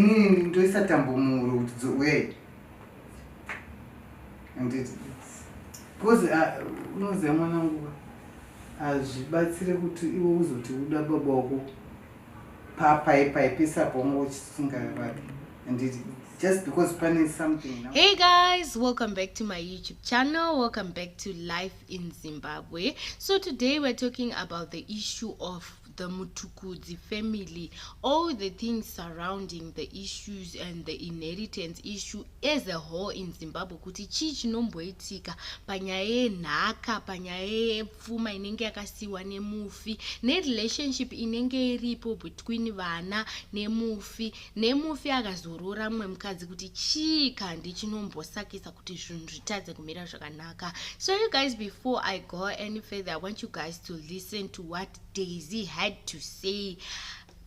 inini ndoisa tambo muhuro kuti dzouyayi anditi bcause ah, unoziva mwana nguva hazvibatsire kuti iwe uzoti uda baba wako papaipai pese apo wanga uchisingavake anditi just because pane something now. hey guys welcome back to my youtube channel welcome back to life in zimbabwe so today we're talking about the issue of the Mutukudzi family, all the things surrounding the issues and the inheritance issue as a whole in Zimbabwe kuti chii chinomboitika panyaya yenhaka, panyaya yepfuma inenge yakasiiwa nemufi, nerelationship inenge iripo between vana nemufi, nemufi akazorora mumwe mukadzi kuti chii kandi chinombosakisa kuti zvinhu zvitadze kumira zvakanaka. So you guys before I go any further, I want you guys to listen to what daisy had to say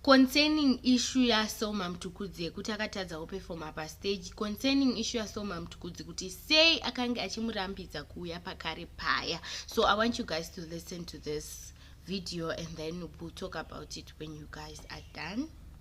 concerning issue yasoma mtukudzi yekuti akatadzawo pefoma pastage concerning issue yasoma mtukudzi kuti sei akange achimurambidza kuuya pakare paya so i want you guys to listen to this video and then we'll talk about it when you guys are done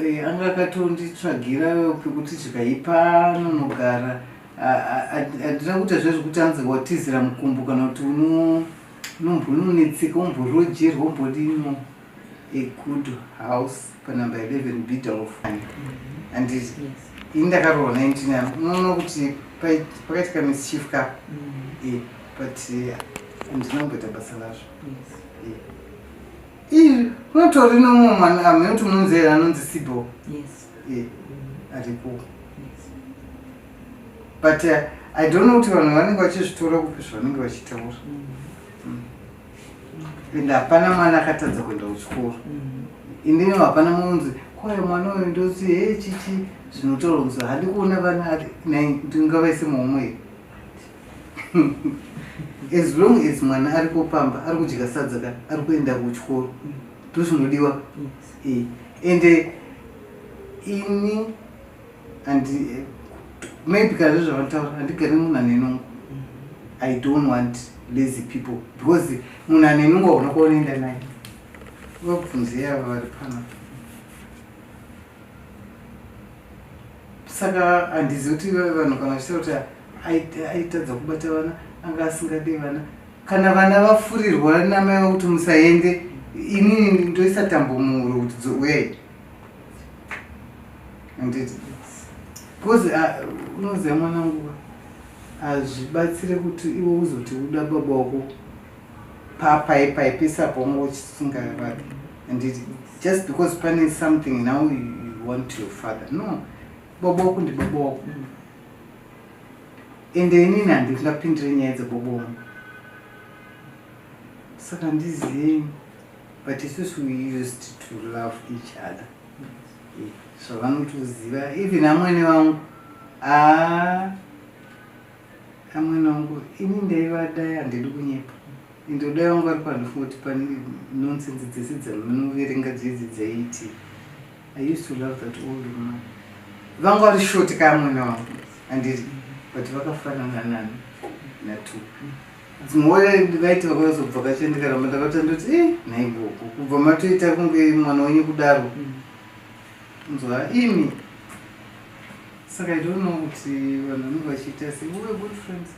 Eh, anga akatonditsvagira pekuti chikaipa anonogara handina kuita zve zvekuti anzi watizira mukumbo kana kuti unombononetseka umborojerwa umbodino a good house panumber 11 bidof and ini ndakarohwa 19 yavo unoona kuti pakaitika mischief ka mm. eh, but eh, handina kumboita basa lazvo iri unotori nomwe mwana amene kuti unomunzera anonzi sibo yes eh, aripo yes but uh, i don't know kuti vanhu vanenge vachizvitora kupi zvavanenge vachitaura Mm. ende hapana mwana akatadza kuenda kuchikoro Mm. indini hapana munzi kwaye mwana uyu ndozi he chichi zvinotaura kunzi handi kuona vana ati nai ndingavaise muhomwe here as long as mwana ari kupamba ari kudya sadza ka ari kuenda kuchikoro ndozvinodiwa eh, ende ini andi eh, maybe kana zvezvavataura handigari munhu ane nungu i don't want lazy people because munhu ane nungu hauna kwaunoenda naye vakubvunzei ava vari panapa saka handizivi kuti ivave vanhu kana vachitaura kuti aitadza kubata vana anga asingade vana kana vana vafurirwa namai vakuti musaende inini ndoisa tambo muhuro kuti dzowei anditi bcause unoziva mwana nguva hazvibatsire kuti iwe uzoti uda baba wako papai paipisa pongo uchisunga vake and it, just because pane something now you, you want your father no bobo wako ndi bobo wako mm. ende inini handingapindire nyaya dzebobo wangu saka ndizii but isusu we used to love each other zvavanotoziva even amwene vangu aa ah. Ah, mwana wangu ini ndaivadai handidi kunyepa ende udai wangu ari panofunga kuti pane nonsense dzese dzamunoverenga dzidzi dzaiti i used to love that old woman vanga vari shoti kaya mwana wangu handiri but vakafanana nani natu dzimwe vaiti vakazobva kachendikaramba ndakata ndoti e eh, nhaiboko kubva matoita kunge mwana wenyu kudaro nzwa imi saka i don't know kuti vanhu vanenge vachiita se we good friends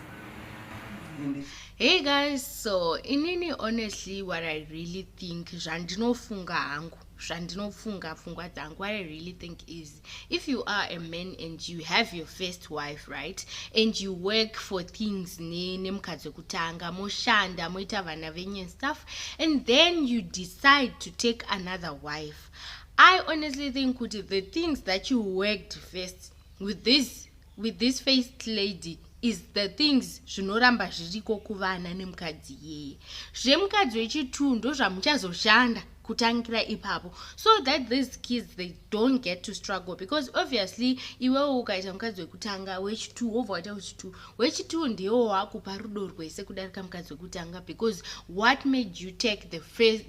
hey guys so inini honestly what i really think zvandinofunga hangu zvandinofunga pfungwa dzangu what i really think is if you are a man and you have your first wife right and you work for things nemukadzi wekutanga moshanda moita vana venyu and stuff and then you decide to take another wife i honestly think kuti the things that you worked first with this with this faced lady is the things zvinoramba zviriko kuvana nemukadzi yeye zvemukadzi wechituu ndozvamuchazoshanda kutangira ipapo so that these kids they don't get to struggle because obviously iwewo ukaita mukadzi wekutanga wechitu wobva waita wechitu wechitu ndiwo wakupa rudo rwese kudarika mukadzi wekutanga because what made you take the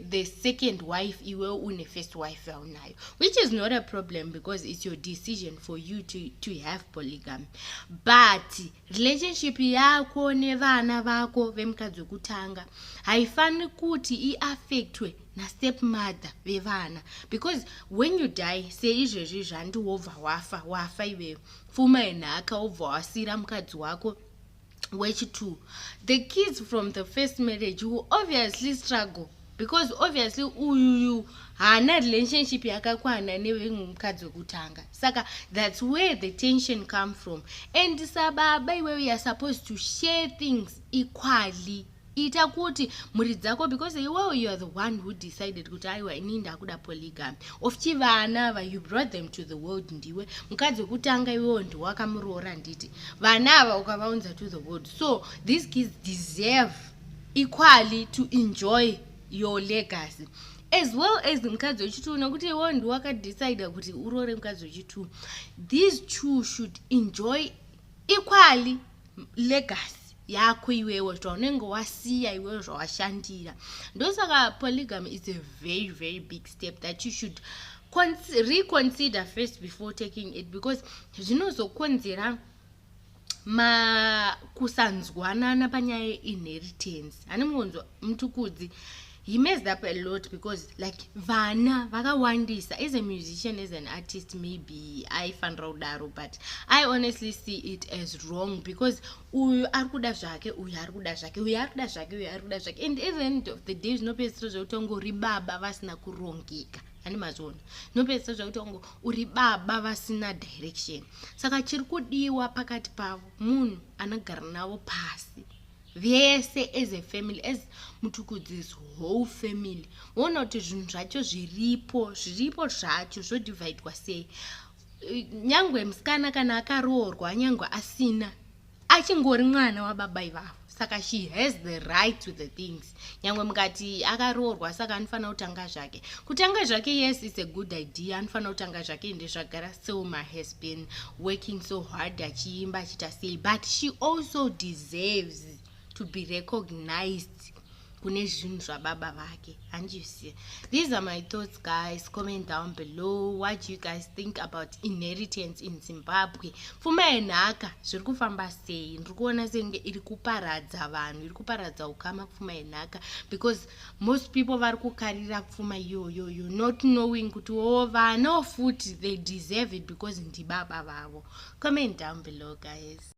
the second wife iwe une first wife yaunayo which is not a problem because it's your decision for you to, to have polygamy but relationship yako nevana vako vemukadzi wekutanga haifaniri kuti iaffectwe nastep mother vevana because when you die seizvezvi zvandi wobva wafa wafa iweyo pfuma yenhaka wobva wasiira mukadzi wako wechitu the kids from the first marriage will obviously struggle because obviously uyuyu haana relationship yakakwana nevemwe mukadzi wekutanga saka thats where the tension come from and sababa iwewe youare supposed to share things equally ita kuti mhuri dzako because iwewo you are the one who decided kuti aiwa inii ndakuda polygamy of chi vana ava you brought them to the world ndiwe mukadzi wekutanga iwewo ndiwakamuroora nditi vana ava ukavaunza to the world so these kids deserve equally to enjoy your legacy as well as mukadzi wechitwo nokuti iwewo ndiwakadecide kuti uroore mukadzi wechitwo these two should enjoy equally legacy yako iwewo zvaunenge wasiya iwewo zvawashandira ndosaka polygamy is a very very big step that you should reconsider first before taking it because zvinozokonzera makusanzwanana panyaya yeinheritance hane muonzo mutukudzi he messed up a lot because like vana vakawandisa as a musician as an artist maybe aifanira kudaro but i honestly see it as wrong because uyu ari kuda zvake uyu ari kuda zvake uyu ari kuda zvake uyu ari kuda zvake and at the end of the day zvinopedzisira zvekuti wange uri baba vasina kurongeka ani mazvona zvinopedzisira zvekuti wange uri baba vasina direction saka chiri kudiwa pakati pavo munhu anogara navo pasi vese as a family as mutukudzis whole family woona kuti zvinhu zvacho zviripo zviripo zvacho zvodivhaidwa sei nyangwe musikana kana akaroorwa nyangwe asina achingori mwana wababa ivavo saka she has the right to the things nyangwe mukati akaroorwa saka anofanira kutanga zvake kutanga zvake yes its a good idea anofanira kutanga zvake ende zvagara selma has been working so hard achiimba achiita sei but she also deserves to be recognized kune zvinhu zvababa vake handisi these are my thoughts guys comment down below what do you guys think about inheritance in zimbabwe pfuma yenhaka zviri kufamba sei ndiri kuona senge iri kuparadza vanhu iri kuparadza ukama pfuma yenhaka because most people vari kukarira pfuma iyoyoyo not knowing kuti wo oh, vano futi they deserve it because ndibaba vavo comment down below guys